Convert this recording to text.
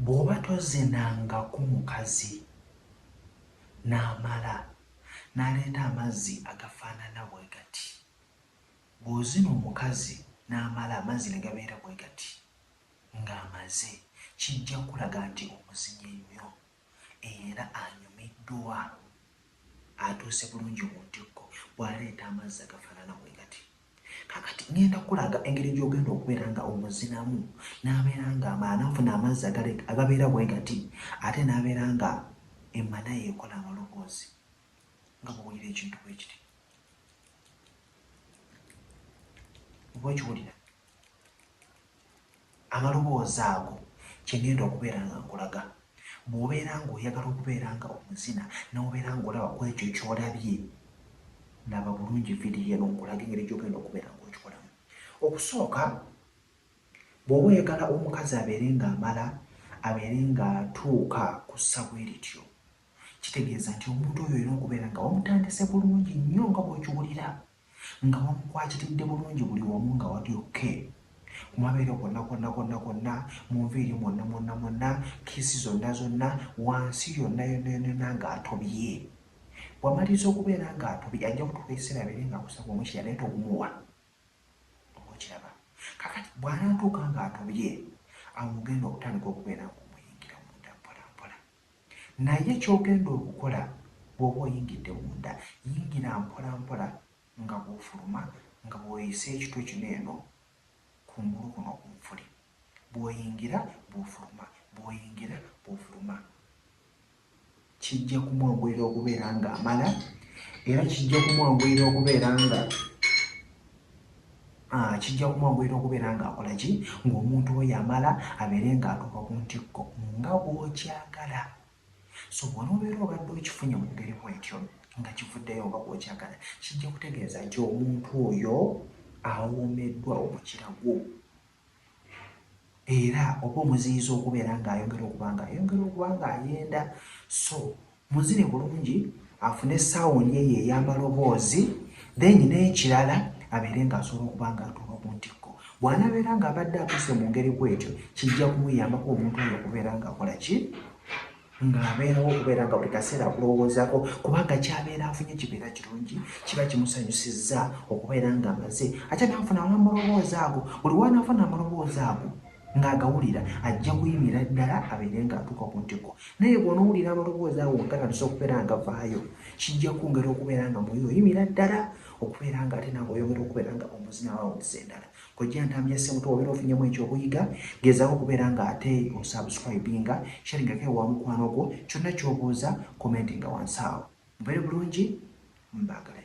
Bw'oba tozinangako mukazi n'amala n'aleeta amazzi agafaanana bwe gati, bw'ozina omukazi n'amala amazzi ne gabeera bwe gati ng'amaze, kijja kukulaga nti omuzinye nnyo. era anyumiddwa atuuse bulungi ku ntikko bw'aleeta amazzi agafaanana bwe gati. Kaakati ŋŋenda kukulaga engeri gy'ogenda okubeera nga omuzinamu n'abeera ng'amala n'afuna amazzi agabeera bwe gati ate n'abeera nga emmana ye ekola amaloboozi nga bw'owulira ekintu bwe kiti. Oba okiwulira? Amaloboozi ago kye ŋŋenda okubeera nga nkulaga. Bw'obeera ng'oyagala okubeera nga omuzina n'obeera ng'olaba ku ekyo ky'olabye, laba bulungi vidiyo eno nkulage engeri gy'ogenda okubeera ng'okikolamu. Okusooka, bw'oba oyagala omukazi abeere ng'amala, abeere ng'atuuka ku ssa bwe lityo, kitegeeza nti omuntu oyo olina okubeera nga wamutandise bulungi nnyo nga bw'okiwulira. Nga wamukwatiridde bulungi buli wamu nga wali ok kumabeere kwonna kwonna kwonna kwonna munviiri mwonna mwonna mwonna kiss zonna zonna wansi yonna yonna yonna yonna nga atobye wamaliriza okubeera nga atobye ajja kutuuka ekiseera abeere nga akusaba omukira naye togumuwa oba okiraba kakati bwanatuuka nga atobye awo mugenda okutandika okubeera nga Naye ky'ogenda okukola bw'oba oyingidde munda, yingira mpolampola nga bw'ofuluma nga bw'oyisa ekitwe kino eno kungulu kuno ku nfuli. Bw'oyingira bw'ofuluma, bw'oyingira bw'ofuluma. Kijja kumwanguyira okubeera ng'amala era kijja kumwanguyira okubeera nga. Ah, kijja kumwanguyira okubeera ng'akola ki ng'omuntu we yamala abeere ng'atuuka ku ntikko nga bw'okyagala so bw'onoobeera obadde okifunye mu ngeri bwetyo nga kivuddeyo oba bw'okyagala kijja kutegeeza nti omuntu oyo awoomeddwa omukira gwo era oba omuziyiza okubeera ng'ayongera okuba ng'ayongera okuba ng'ayenda so muzine bulungi afune sawundi eyo ey'amaloboozi then n'ekirala abeere ng'asobola okuba ng'atuuka ku ntikko bw'anabeera ng'abadde atuuse mu ngeri bw'etyo kijja kumuyambako omuntu oyo okubeera ng'akola ki ng'abeerawo okubeera nga buli kaseera akulowoozaako kubanga kyabeera afunye kibeera kirungi kiba kimusanyusizza okubeera ng'amaze ate naafuna amulowooza ago buli wanaafuna amulowooza ago ng'agawulira ajja kuyimira ddala abeere ng'atuuka ku ntiko naye bw'onowulira amaloboozi awo ngatandisa okubeera nga vaayo kijja kwongera okubeera nga muyo oyimira ddala okubeera nga ate naawe oyongera okubeera nga omuzina wawuliza endala Kojja ntambi ya semuto wabera ofunyemu ekyo okuyiga gezako kubera nga ate osubscribinga sharinga ke wa mukwano gwo kyonna kyobuuza commentinga wansi awo mubere bulungi mbagala